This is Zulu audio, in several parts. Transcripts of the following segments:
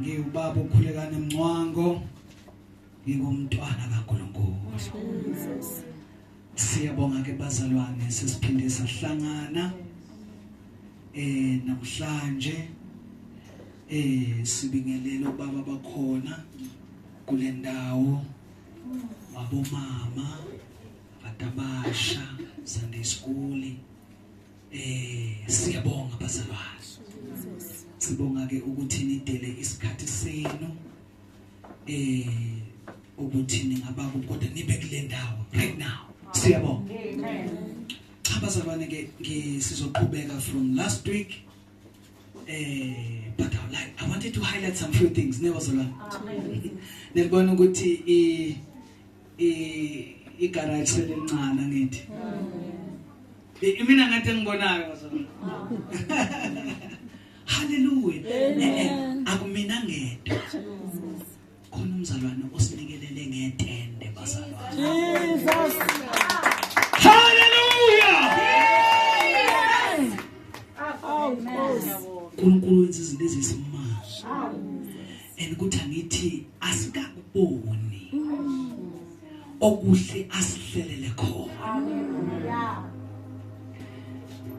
ngiwubaba ukhulekane mncwango ngingumntwana kaNkulunkulu Jesus siyabonga ke bazalwane sesiphinde sahlangana eh namhlanje eh sibingelele ubaba bakhona kule ndawo abomama batabasha Sunday school Eh siyabonga bazalwane. Sibonga ke ukuthi nidele isikhathi senu. Eh ukuthi ningaba kodwa nibe kule ndawo right now. Siyabonga. Amen. Cha bazalwane ke sizoqhubeka from last week. Eh but I like I wanted to highlight some few things nebazalwane. Amen. Nelibona ukuthi i igaraji selincana ngithi imina ngathi engibonayo haleluya akumina ngedwa khona umzalwane osinikelele ngetende bazalwane haleluya unkulunkulu wenza izinto ezisimanga and ukuthi angithi asikakuboni okuhle asihlelele khona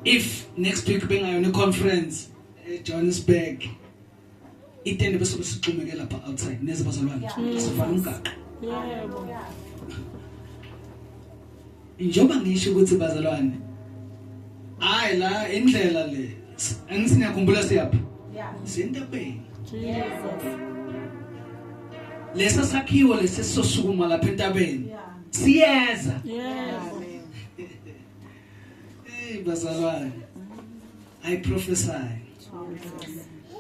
if next week bengayona iconference eJohannesburg itende bese sixhumeke lapha outside neze bazalwane sifana umgaqo yebo Njengoba ngisho ukuthi bazalwane hayi la indlela le angithi niyakhumbula siyaphi? Yeah. Sentabeni. Jesus. Lesa sakhiwo lesi sosukuma lapha entabeni. Yeah. Siyeza. Yes. Hey bazalwane. I prophesy.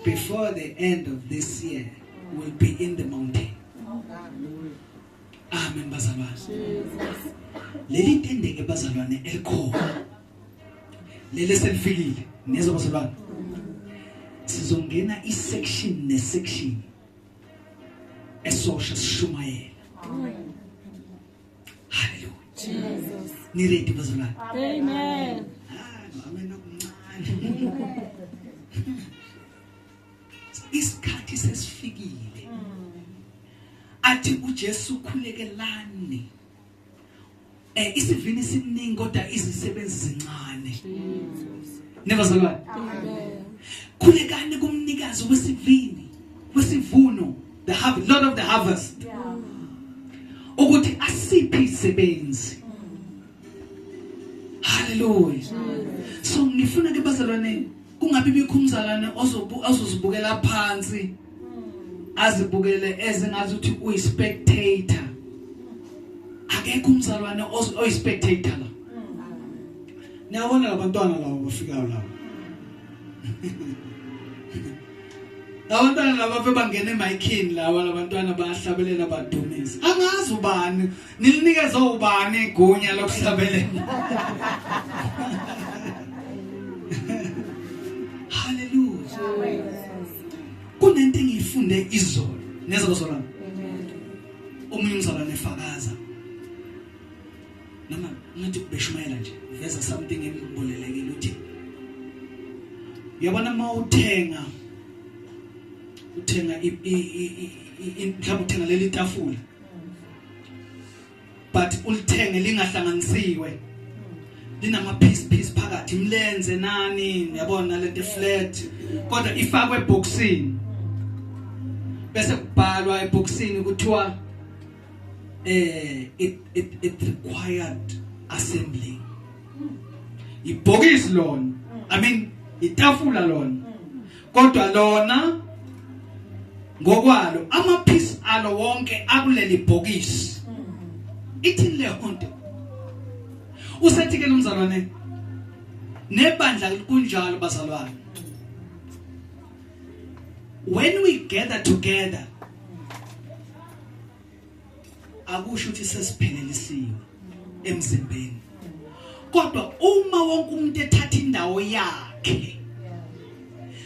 Before the end of this year, will be in the mountain. Amen bazalwane. Leli tendenge bazalwane elikhona. Lele selifikile nezwa bazalwane. Sizongena isection nesection esosha sishumayela. Hallelujah. Jesus. Ni ready bazalwane. Amen. Amen. isikhathi sesifikile athi uJesu khulekelani eh isivini siningi kodwa izisebenzi zincane nebazalwane khulekani kumnikazi wesivini wesivuno the harvest lord of the harvest ukuthi asiphe izisebenzi haleluya so ngifuna ke bazalwane kungabi bikho umzalwane ozozibukela phansi azibukele ezingazi ukuthi uyi spectator akekho umzalwane oyi spectator la niyabona labantwana lawo bafikayo lawo labantwana laba bebangena emayikhini lawa labantwana bayahlabelela badumise angazi ubani Nilinikeze ubani igunya lokuhlabelela? Hallelujah. Kunento engiyifunde izolo. Neza kusolana. Omunye umzalwane efakaza. Noma ngathi ubeshumayela nje. Veza something engibulelekile uthi. Yabona mawuthenga uthenga i mhlawumbe uthenga leli tafula but ulithenge lingahlanganisiwe linama piece piece phakathi imlenze nani yabona lento flat kodwa ifakwe eboxini bese kubhalwa eboxini kuthiwa eh it it it required assembly ibhokisi lona i mean itafula lona kodwa lona ngokwalo amaphisi alo wonke akuleli bhokisi ithini le nto usethi ke nomzalwane nebandla kunjalo bazalwane when we gather together akusho ukuthi sesiphelelisiwe emzimbeni kodwa uma wonke umuntu ethatha indawo yakhe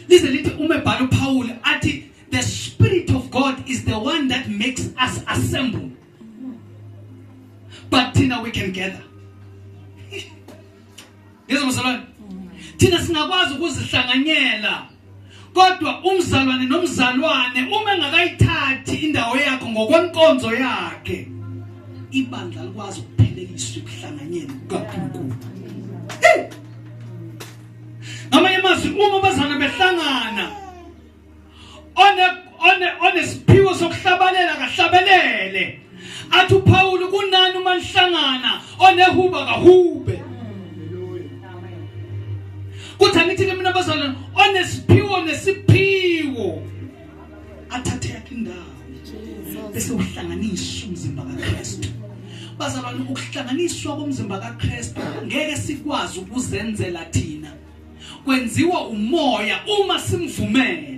lize lithi uma ebhala uPaul athi the spirit of God is the one that makes us assemble but thina we can gather ngizomsolwana thina singakwazi ukuzihlanganyela kodwa umzalwane nomzalwane uma engakayithathi indawo yakho ngokwenkonzo yakhe ibandla likwazi ukuphelekiswa ekuhlanganyeni kukaNkulunkulu ngamanye amazwi uma abazana behlangana one one onesiphiwo sokuhlabalela kahlabelele athi uPawulu kunani uma nihlangana onehuba kahube kuthi angithi ke mina bazalwane onesiphiwo nesiphiwo athathe yakhe indawo bese uhlanganisa umzimba kaKristu bazalwane ukuhlanganiswa komzimba kaKristu ngeke sikwazi ukuzenzela thina kwenziwa umoya uma simvumela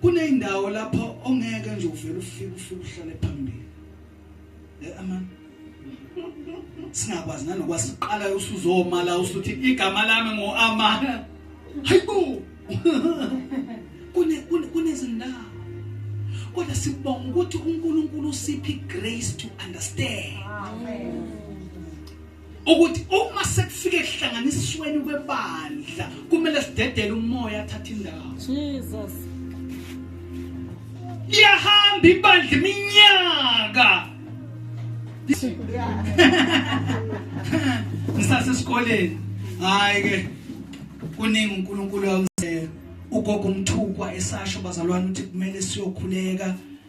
kuneyindawo lapho ongeke nje uvele ufike ufike uhlale phambili eh aman singakwazi nanokwazi siqala usuzomala usuthi igama lami ngo amana hayibo kune kunezindawo kodwa sibonga ukuthi uNkulunkulu usiphi grace to understand amen ukuthi uma sekufike kuhlanganisweni kwebandla kumele sidedele umoya athathe indawo Jesus liyahamba ibandla iminyaka ngisase sikoleni hayi ke kuningi uNkulunkulu ugogo umthukwa esasho bazalwane ukuthi kumele siyokhuleka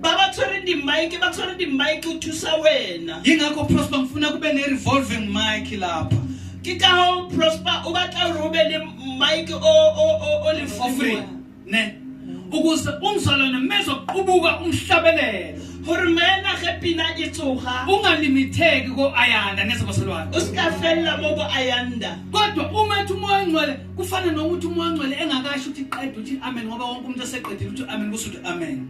ba ba tshwere di-mike ba tshwere di-mike o thusa wena yingakho prosper ngifuna kube ne-revolving mike lapha ke ka hoo prosper o batla gore o be le mike o o- o- o le for free free ne ukuze umzalwane mezoqubuka umhlabelelo gore maena ge pina e tsoga ungalimitheki ko-ayanda nezabasolwane o se ka felela mo bo ayanda kodwa uma ethi umoya ongcwele kufana nokuthi umoya ongcwele engakasho ukuthi qeda ukuthi amen ngoba wonke umuntu eseqedile ukuthi amen kusho ukuthi amen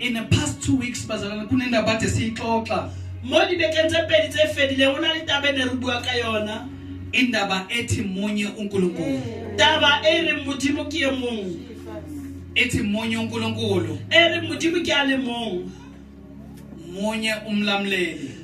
In the past two weeks bazalana kunendaba kade siyixoxa. Modi bekentse pedi tse fedile ho na le taba ne re bua ka yona. Indaba ethi munye uNkulunkulu. Taba e re modimo ke e mong. Ethi munye uNkulunkulu. E re modimo ke a le mong. Munye umlamleli.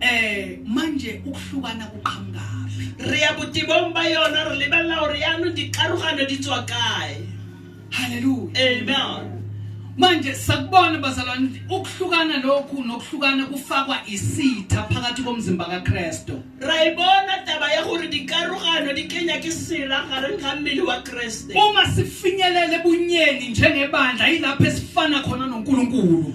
Eh manje ukuhlukana kuqhamukaphi? Re ya botibong ba yona re lebelela hore yaanong dikarogano di tswa kae. Hallelujah. Amen. manje sakubona bazalwane ukuhlukana lokhu nokuhlukana kufakwa isitha phakathi komzimba kaKristu rayibona taba ya gore dikarogano di kenya ke sela gareng ga mmele wa Kriste uma sifinyelele bunyeni njengebandla yilapho esifana khona noNkulunkulu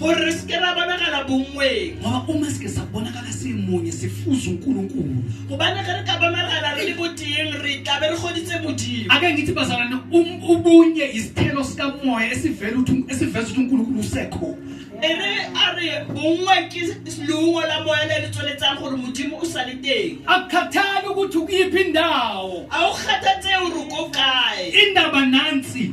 gore re seke ra bonagala bongweng ngoba uma sike sabonakala simunye sifuza unkulunkulu gobane ge re ka bonagala re le boteng re tlabe re goditse modimo ake ngithi bazalwane um- ubunye isithelo sikamoya esivela ukuthi- esiveza ukuthi unkulunkulu usekho e re a re bongwe ke leungo la moya le le tsweletsang gore modimo o sa le teng akukhathali ukuthi ukuyiphi indawo a o kgathatse gore ko kae indaba nansi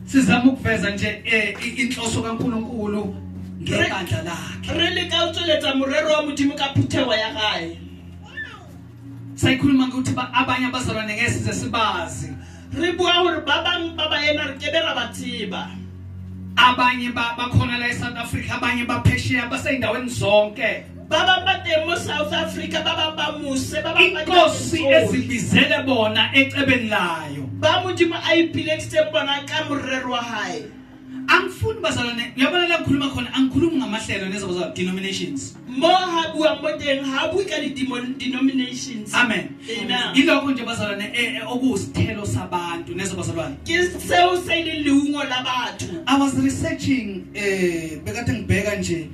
sizama ukuveza nje eh, i- inhloso kaNkulunkulu ngebandla lakhe re leka ho tsweletsa morero wa modimo ka phutheho ya gae sayikhuluma ngokuthi ba- abanye abazalwane ngeke size sibazi re bua gore ba bangwe ba baena re kebe ra ba tseba abanye ba- bakhona la eSouth Africa abanye baphesheya baseyindaweni zonke inkosi ezibizele bona ecebeni layo ba modimo a ipileditse bona ka morero wa hae angifuni bazalwane uyabona la ngikhuluma khona angikhulumi ngamahlelo nezoba za denominations mo ha bua mo teng ha bui ka denominations amen ilokho nje bazalwane eh, eh, okusithelo sabantu nezo bazalwane ke seo se le leungo la batho i was researching eh bekade ngibheka nje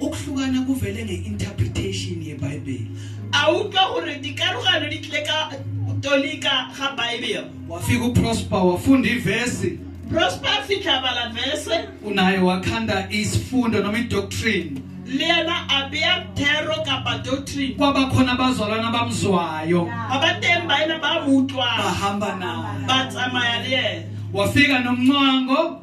Ukuhlukana kuvele nge-interpretation yeBhayibheli. Awuke hore dikarogano di tlile ka tolika ga Bible. Wafika uProsper wafunda ivesi. Prosper afika bala vese. Unaye wakhanda isifundo noma idoctrine. le yena a beya thero kapa doctrine kwaba khona abazalwana abamzwayo ba ba teng ba ena ba mo utlwang bahamba naye ba tsamaya le yena wafika nomncango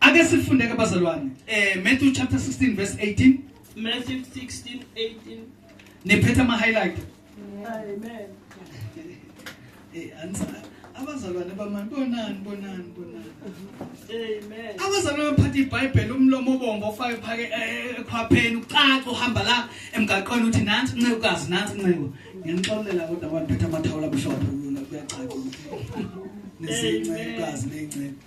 Ake sifunde ke bazalwane. Eh Matthew chapter 16 verse 18. Matthew 16 18. Niphethe ama highlight. Amen. Eh ansa abazalwane bamani bonani bonani bonani. Amen. Abazalwane baphatha iBhayibheli umlomo obombo ofake phake eh, ekhwapheni ucaca uhamba la emgaqweni uthi nansi ncekukazi nansi nceko. Ngiyanixolela kodwa abantu phethe amathawula bushophe kuyacaca. Nezinceku kazi nezinceku.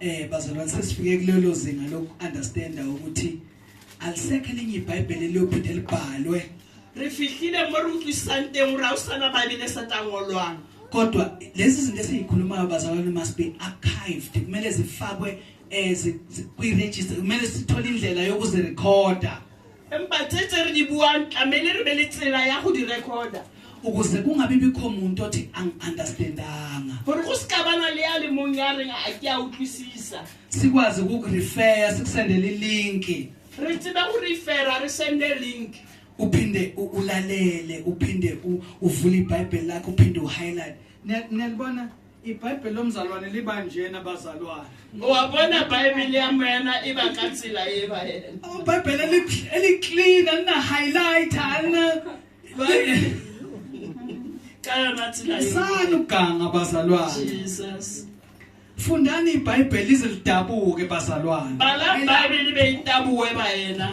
eh bazalwane sesifike kulelo zinga lokuunderstanda ukuthi alisekho elinye ibhayibheli eliyophinde libhalwe re fihlile mo re utlwisang teng gore ga o sana baebele sa tangolwang kodwa lezi zinto esiyikhulumayo bazalwane must be archived kumele zifakwe um kwi-register kumele sithole indlela yokuzirekhoda empa tse tse re di buang tlamehile re be le tsela ya go di recorda ukuze kungabi bikho muntu othi angi-understandanga gore go seka bana le ya le mong ya reng a ke a utlwisisa sikwazi ukukurefeya sikusendele ilinki re tsebe go refera re sende link uphinde u- ulalele uphinde u- uvule ibhayibheli lakho uphinde uhighlight Niya- niyalibona ibhayibheli lomzalwane liba njena bazalwane ngowabona bhayibheli yami yena iba katsila yeba yena ibhayibheli eli- eliclean alina-highlighter alina kaya nathi la sani ukuganga bazalwane Jesus fundani ibhayibheli lize lidabuke bazalwane bala bhayibheli beyitabuwe ba yena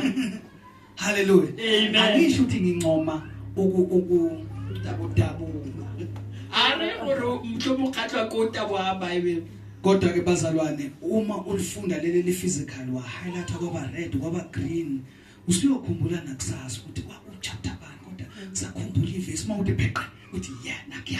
Hallelujah. Amen. Angisho ukuthi ngincoma uku uku dabu dabu. Are uru mhlobo ukhathwa kuta wahamba ibe. Kodwa ke bazalwane uma ulifunda leli li physical wa highlight kwaba red kwaba green usuyokhumbula nakusasa ukuthi kwakuchapter bani kodwa sakhumbula ivesi uma uthi pheqa uthi yeah nakuya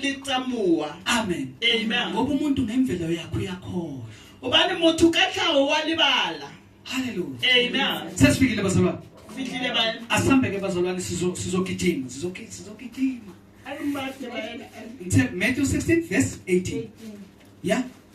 licamuwa amen amen ngoba umuntu ngemvelo yakho uyakhohlwa ubani motho ka tlhago wa lebala halleluya amen se se fitlhile bazalwane fitlhile ba asambeke bazalwane sizogijima sizogijima Matthew 16 verse 18 ya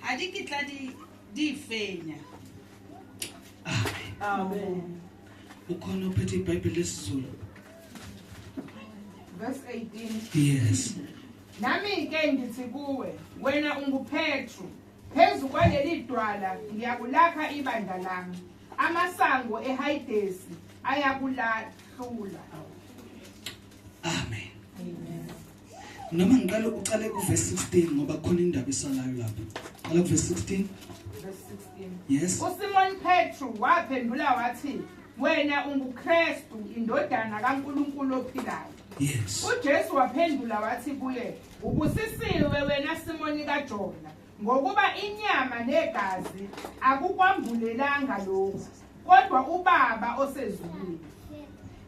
Ha di kitla di di fenya. Amen. Ukhona uphethe iBhayibheli lesiZulu. Verse 18. Yes. Nami ke ngithi kuwe, wena unguPetru. Phezu kwaleli dwala ngiyakulakha ibandla lami. Amasango eHayidesi ayakulahlula. Amen. Noma ngiqale uqale ku verse 16 ngoba khona indaba isalayo lapha. Qala ku verse 16. Verse 16. Yes. USimon Petru waphendula wathi wena unguKristu indodana kaNkuluNkulu ophilayo. Yes. UJesu waphendula wathi kuye ubusisiwe wena Simoni kaJona Ngokuba inyama negazi akukwambulelanga lokhu, kodwa uBaba osezulwini.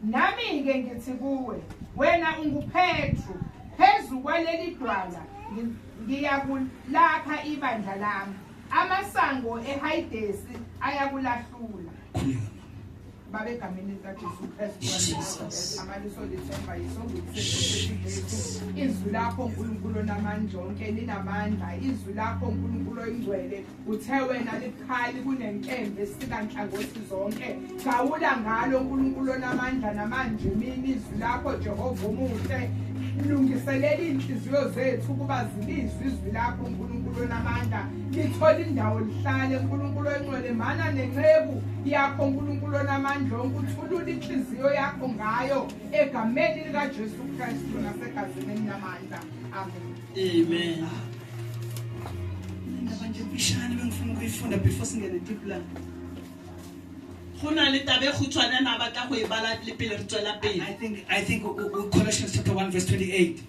Nami-ke ngithi kuwe, wena unguPetru, phezu kwaleli dwala ngiyakulakha ibandla lami, amasango ehayidesi ayakulahlula. Baba egameni likaJesu Kristu amaliso lithemba yisongokusesethu izwi lakho uNkulunkulu onamandla onke linamandla izwi lakho uNkulunkulu oyingcwele uthe wena likhali kunenkembe sikanhlangothi zonke gawula ngalo uNkulunkulu onamandla namanje mina izwi lakho Jehova umuhle lungiselela inhliziyo zethu ukuba zilizwe izwi lakho uNkulunkulu onamandla lithole indawo lihlale nkulunkulu oncwele mana nenceku yakho nkulunkulu onamandla onke uthulule inhliziyo yakho ngayo egameni likajesu kristu nasegazini elinamandla amen amen indaba nje mfishane bengifuna ukuyifunda before singene deep la go na le tabe khutshwane na batla go e bala le pele re tswela pele i think i think colossians chapter 1 verse 28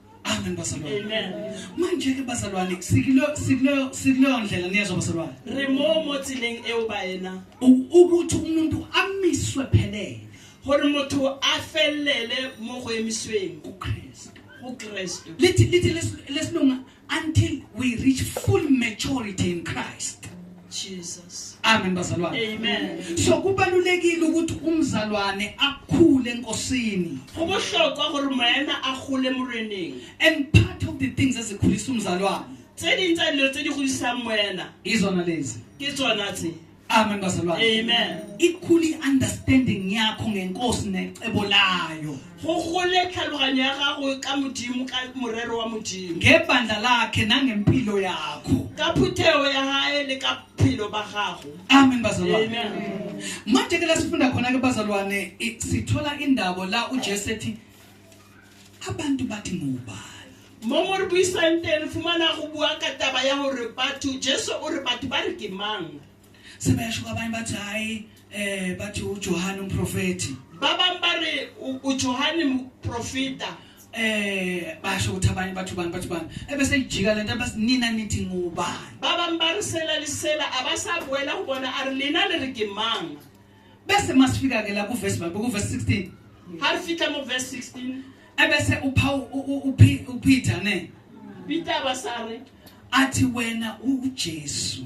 Amen bazalwane. Amen. Manje ke bazalwane sikulo sikulo sikulo ndlela niyezwa bazalwane. Remo mo tsileng eo ba ena. Ukuthi umuntu amiswe phelele. Hore motho a fellele mo go emisweng ku Christ. Ku Christ. Lithi lithi lesilunga until we reach full maturity in Christ. Jesus. Amen bazalwane. Amen. So kubalulekile ukuthi umzalwane akhule enkosini. Go bohlokwa gore moena a gole moreneng. And part of the things ezikhulisa umzalwane. Tse ding tsa dilo tse di godisang moena. Izona lezi. Ke tsona tse. Amen bazalwane. Amen. Ikhuli understanding yakho ngenkosi necebo layo. go gole tlhaloganyo ya gago ka modimo ka morero wa modimo ngebandla lakhe nangempilo yakho ka phuthego ya gae le ka philo ba gago amen bazalwane manje ke la sifunda khona-ke bazalwane i- sithola indabo la ujesu ethi abantu bathi ngubani mo mo re buisang teng re fumana go bua ka taba ya gore batho jesu o re batho ba re ke mang sebeyasho kwabanye bathi hayi eh bathi uJohane umprofeti baba mbari uJohane umprofita eh basho ukuthi abanye bathu bani bathu bani ebese ijika lento abasinina nithi ngubani baba mbarisela lisela abasabuela ubona arlina le rigimanga bese masifika ke la ku verse babe ku verse 16 ha fika mu verse 16 ebese upha uPeter ne Peter basare athi wena uJesu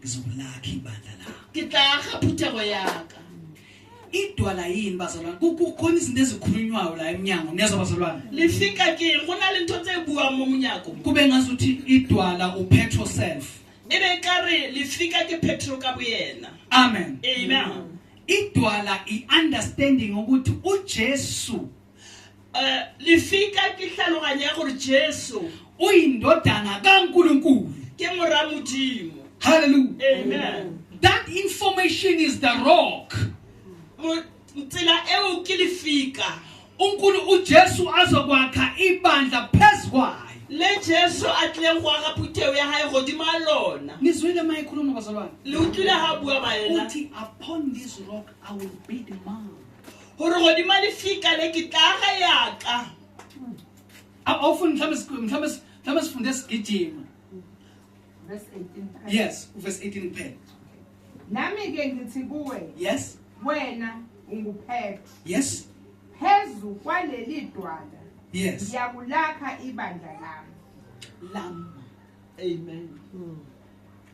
ngizobulakha ibandla lakho ke tla ga phuthego yaka idwala yini bazalwane kukhona izinto ezikhulunywayo la emnyango niyezwa bazalwane lifika ke go na le ntho tse buwang mo monyako kube ngazuthi idwala upetrol self e be ka re lifika ke petrol ka boyena amen amen idwala i-understanding ukuthi ujesu Eh, lifika ke tlhaloganya ya gore jesu o indodana ka nkulunkulu ke mora modimo hallelujah amen that information is the rock Mo- tsela eo ke lifika unkulu ujesu azokwakha ibandla phezu kwayo le jesu a tlileng go aga phutheo ya gae godimo a lona nizwile ma ekhuluma bazalwane le utlwile ga bua baena uthi upon this rock i will build my gore godima lefika le ke tlaga yaka mhlawumbe sifunde sigijima yes verse 18 kuphela nami-ke ngithi kuwe yes wena unguphetro yes phezu kwaleli dwala yes ngiyakulakha ibandla lami lami amen mm.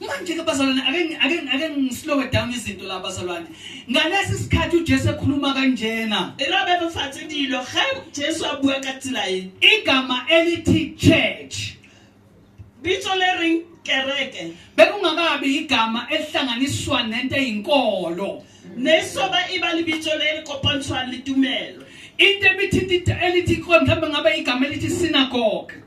manje ke bazalwane ake ake ake ngislowe down izinto la bazalwane ngalesi sikhathi uJesu ekhuluma kanjena ela bebe fathi dilo ga Jesu a bua ka tsela e igama elithi church bitso le ring kereke bekungakabi igama elihlanganiswa nento eyinkolo nesoba iba libitso le likopantshwa litumelo into ebithinta elithi mhlawumbe ngabe igama elithi synagogue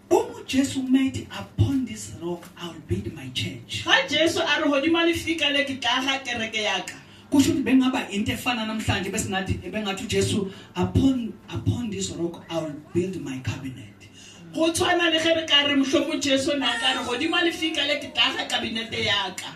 Jesu made upon this rock I will build my church. Ha Jesu a re hodima lefika le ke tla ga kereke ya ka. Kusho ukuthi bengaba into efana namhlanje bese ngathi bengathi uJesu upon upon this rock I will build my cabinet. Go tshwana le ge re ka re mohlomong Jesu na ka re godimo lefika le ke tla ga kabinete ya ka.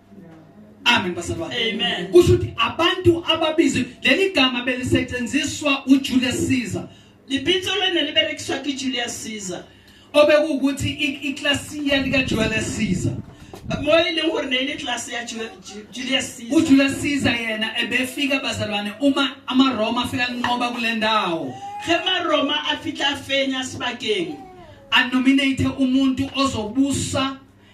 Amen bazalwane. Amen. Kusho ukuthi abantu ababizwe leli gama belisetshenziswa uJulius Caesar. Libitso lena liberekiswa kuJulius Caesar. Obekuwukuthi iklasiya lika Julius Caesar. mo e leng gore ne e le tlase ya julius caesar ujulius caesar yena ebefika bazalwane uma amaroma afika linqoba kule ndawo ge maroma a fitlha fenya sebakeng a nominate umuntu ozobusa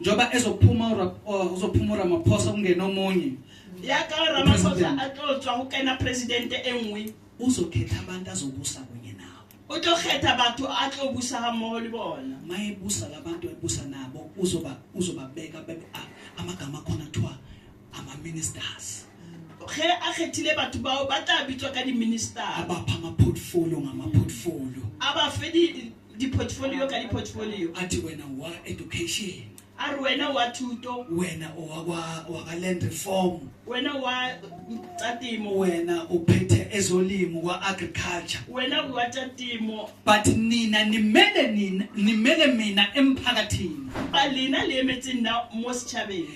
njengoba ezophuma uzophuma uramaphosa kungena omunye yaka ramasosa atlotshwa go kena presidente e nngwe uzokhetha abantu azobusa kunye nawo o tlo kgetha batho a tlo busa ga mmogo le bona ma e busa la bantu e busa nabo uzobabeka amagama akhona kuthiwa ama-ministers ge a kgethile batho bao ba tla bitswa ka di-minister a bapha ama-portfolio ngama-portfolio a ba fe di portfolio ka di portfolio athi wena wa education a ri wena wa thuto wena waka land reform wena wa tsa timo wena u phethe ezolimo wa agriculture wena wa tsa timo but nina nimele nina nimele mina emphakathini ba lina le emetseng na mo setšhabeng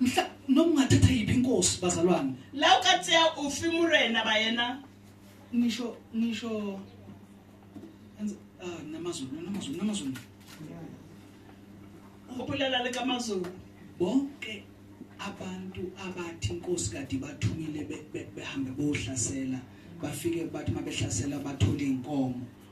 mhla noma ungathatha yiphi inkosi bazalwane la ukatsiya ufi murena bayena ngisho ngisho ah namazulu namazulu namazulu ubulala leka mazulu bonke abantu abathi inkosi kade bathumile behambe bohlasela bafike bathi mabehlasela bathola inkomo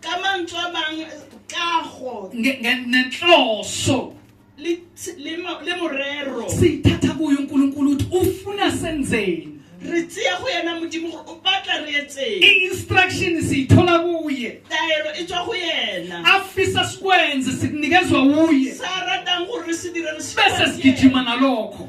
kamantshwabang kago nenhloso le morero siyithatha kuyo uNkulunkulu uthi ufuna senzeni re tseya go yena modimo gore o batla re etseng i-instruction siyithola kuye taelo e tswa go yena afisa sikwenze sinikezwa wuye sa ratang gore re se dire re bese sigijima nalokho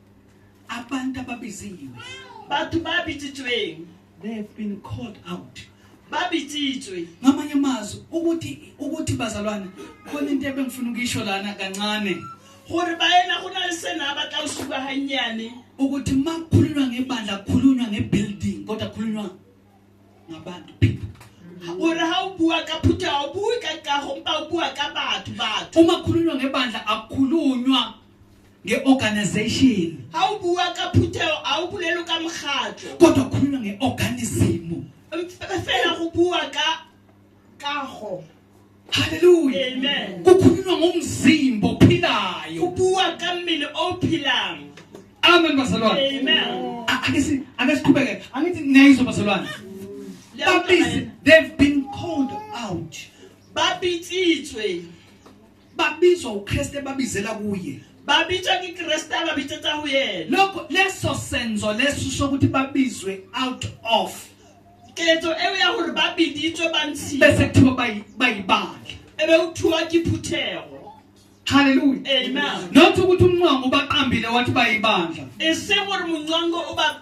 abantu ababiziwe batho ba bitsitsweng they have been called out ba bitsitswe ngamanye amazwi ukuthi ukuthi bazalwane khona into ebengifuna ukuyisho lana kancane gore ba ena go na le sena ba tla usuka hanyane ukuthi makukhulunywa ngebandla kukhulunywa ngebuilding kodwa kukhulunywa ngabantu people gore ha o bua ka phutha o bue ka kago mpa o bua ka batho batho uma kukhulunywa ngebandla akukhulunywa nge-organization ha o bua ka phutheo ha o bolelo ka mokgatlo kodwa khuluma nge-organism fela go bua ka kago haleluya amen kukhulunywa ngomzimba ophilayo kubua ka mmele ophilang amen bazalwane amen ake si ake siqhubeke angithi niyayizwa bazalwane babisi they've been called out babitsitswe babizwa uKristu ebabizela kuye babitsa kikreste ababitsa tsa ho yena lokho leso senzo leso sokuthi babizwe out of ketso eo ya hore ba biditswe ba ntshiwe bese kuthiwa bayi- bayibandla ebe kuthiwa ke phuthego haleluya amen not ukuthi umnqwango ubaqambile wathi bayibandla e se gore mongwango o ba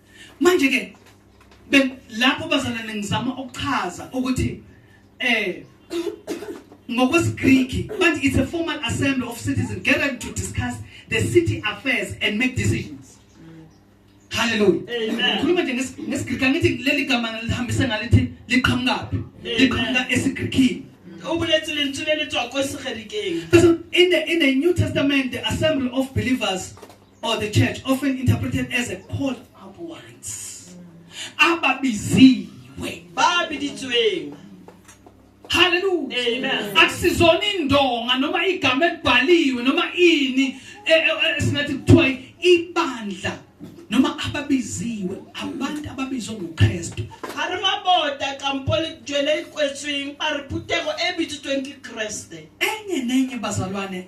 manje ke lapho bazalwane ngizama ukuchaza ukuthi eh ngokwesigriki but it's a formal assembly of citizens gathered to discuss the city affairs and make decisions haleluya ngikhuluma nje ngesigriki angithi leli gama lihambise ngalithi liqhamukaphi liqhamuka esigrikini ubuletsi lentswe lelitswa kwesigrikini in the in the new testament the assembly of believers or the church often interpreted as a called up ones ababiziwe babiditsweng haleluya amen akusizona indonga noma igama elibhaliwe noma ini e, e, e, singathi kuthiwa ibandla noma ababiziwe abantu ababizwe nguKristu hari mabota kampoli jwele ikwetsweng ba re putego e bitsotsweng ke kreste enye nenye bazalwane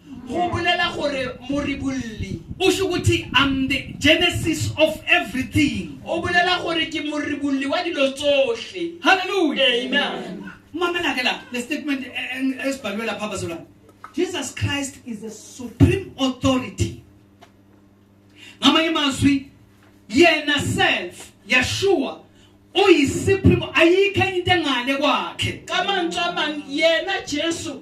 go bolela gore moribolli o sho ukuthi am the genesis of everything o bolela gore ke moribolli wa dilo tsohle hallelujah amen mamela ke la le statement e- e- esibhalwe lapha bazalwane jesus christ is the supreme authority ngamanye amazwi yena self yeshua uyisupreme ayikho enye into engale kwakhe ka mantswe a mang yena jesu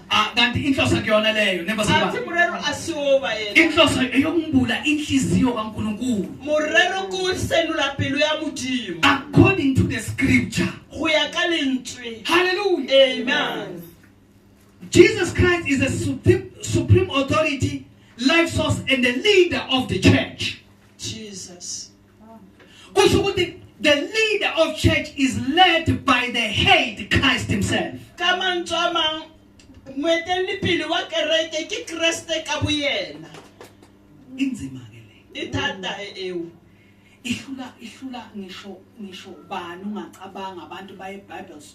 Ah, kanti inhloso kuyona leyo nembasibani murero asiwoba yena inhloso eyokumbula inhliziyo kaNkulunkulu murero kusenula pelo ya modimo according to the scripture go ya ka lentswe hallelujah amen Jesus Christ is the supreme, supreme authority life source and the leader of the church kusho ukuthi the leader of church is led by the head Christ himself tsamang tsamang moeteledipele wa kereke ke kreste ka boyena inzima ke le ithata eo ihlula ihlula ngisho ngisho bani ungacabanga abantu baye bibles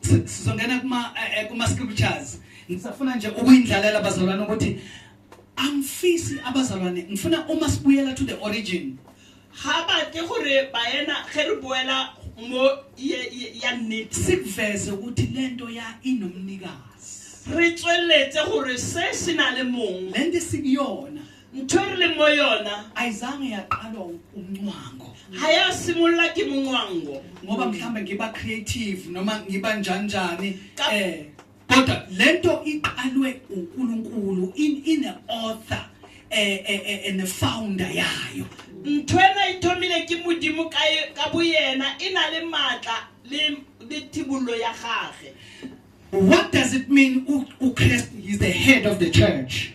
sizongena kuma eh, eh, kuma scriptures ngisafuna nje ukuyindlalela abazalwane ukuthi angifisi abazalwane ngifuna uma sibuyela to the origin ha batle gore bayena ge re boela mo ya nnete sikuveze ukuthi le nto ya inomnikazi re tsweletse gore se se na le mong le nto sikuyona ntwerele mo yona ayizange yaqalwa umncwango hayasimula ke muncwango ngoba mhlawumbe ngiba creative noma ngiba njanjani eh kodwa lento iqalwe uNkulunkulu in in a author eh eh, eh, eh ne founder yayo ntwena ithomile ke modimo ka ka boyena e na le matla le le thibollo ya gage what does it mean u Christ is the head of the church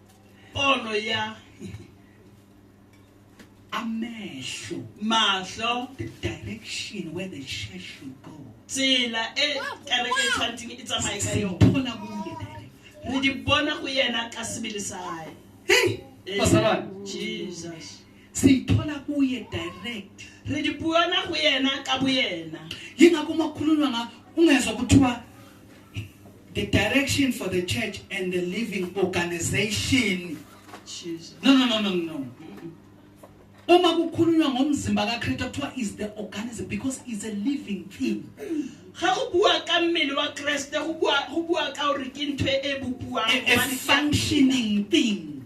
Pono ya amehlo mahlo the direction where the church should go. Tsela e kereke e tshwantseng e tsamaye ka yone. Bona mo le direct. Re di bona go yena ka sebele sa hae. Hey, basalwane. Jesus. Siyithola kuye direct. Re di buana go yena ka boyena. Yingakho makhulunywa nga ungezwa kuthiwa the direction for the church and the living organization Jesus. no no no no no uma kukhulunywa ngomzimba kaKristu kuthiwa is the organism because is a living thing ga go bua ka mmele wa Kriste go bua go bua ka gore ke ntho e bopuang a functioning thing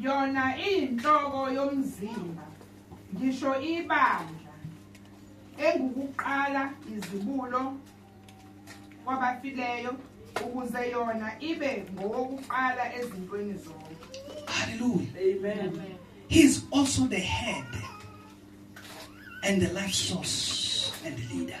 Yona iyinhloko yomzimba, ngisho ibandla, engukuqala izibulo kwabafileyo ukuze yona ibe ngowokuqala ezintweni zonke. Hallelujah. Amen. He is also the head and the life source and the leader.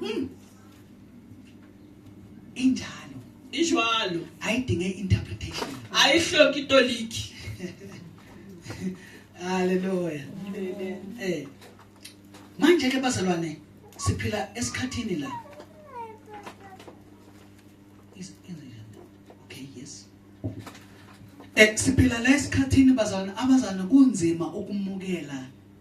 Hmm. Injalo. Injalo. Ayidinge interpretation. Ayihloki itoliki. Hallelujah. Amen. Eh. Manje ke bazalwane siphila esikhathini la. Is in Okay, yes. Eh siphila la esikhathini bazalwane abazana kunzima ukumukela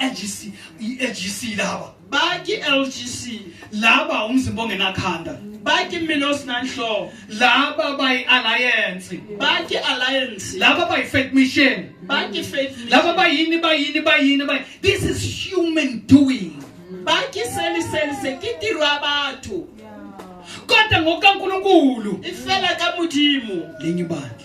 LGC i-LGC laba bathi LGC laba umzimba ongenakhanda bathi mina osinanhloko laba bayi alliance bathi alliance laba bayi faith mission bathi faith mission laba bayini bayini bayini bayi this is human doing bathi seli seli sekitirwa bathu kodwa ngokaNkuluNkulu ifela kaMudimu lenye ibandla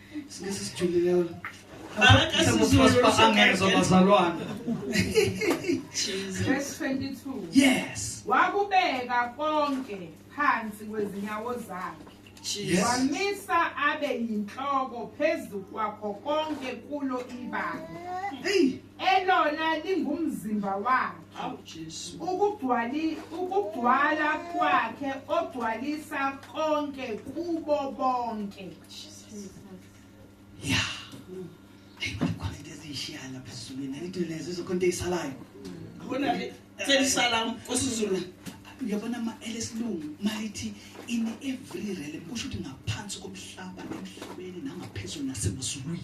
Singisi sijulile wena. Angezwa bazalwane. Verse 22. Yes. Wakubeka konke phansi kwezinyawo zakhe. Yes. Wamisa abe yinhloko phezu kwakho konke kulo ibanga. Hey. Elona lingumzimba wakhe. Awu Jesu. Ukugcwali ukugcwala kwakhe ogcwalisa konke kubo bonke. ya ayi khona into eziyishiyana lapha esizulwini into lezo izokho into eyisalayo abona-ke selisala kwesizulu uyabona ma elesilungu malithi in every realm kusho ukuthi ngaphansi komhlaba emhlabeni nangaphezulu nasemazulwini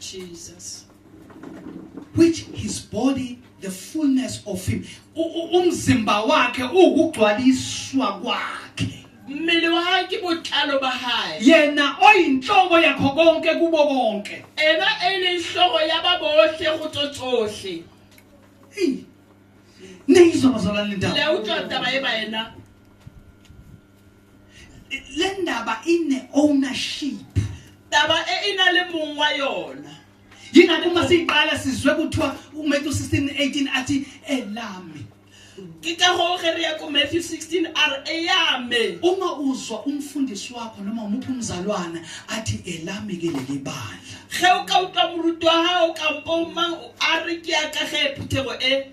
Jesus which his body the fullness of him umzimba wakhe ukugcwaliswa kwakhe mmele wakhe botlalo ba hae yena oyinhloko yakho konke kubo konke ena elinhloko yababohle gotso tsohle ne izwa bazalwane ndaba le utlwa taba e ba ena le ndaba ine ownership taba e ina le mong wa yona yingakho uma siyiqala sizwe kuthiwa umatthew 16 18 athi elami ke ka go ge re ya ko matthew 16 r eyame uma uzwa umfundisi wakho noma umuphi umzalwana athi elami ke leli bandla ge o ka utlwa moruti wa gago kampo mang a re ke ya ka ge phuthego e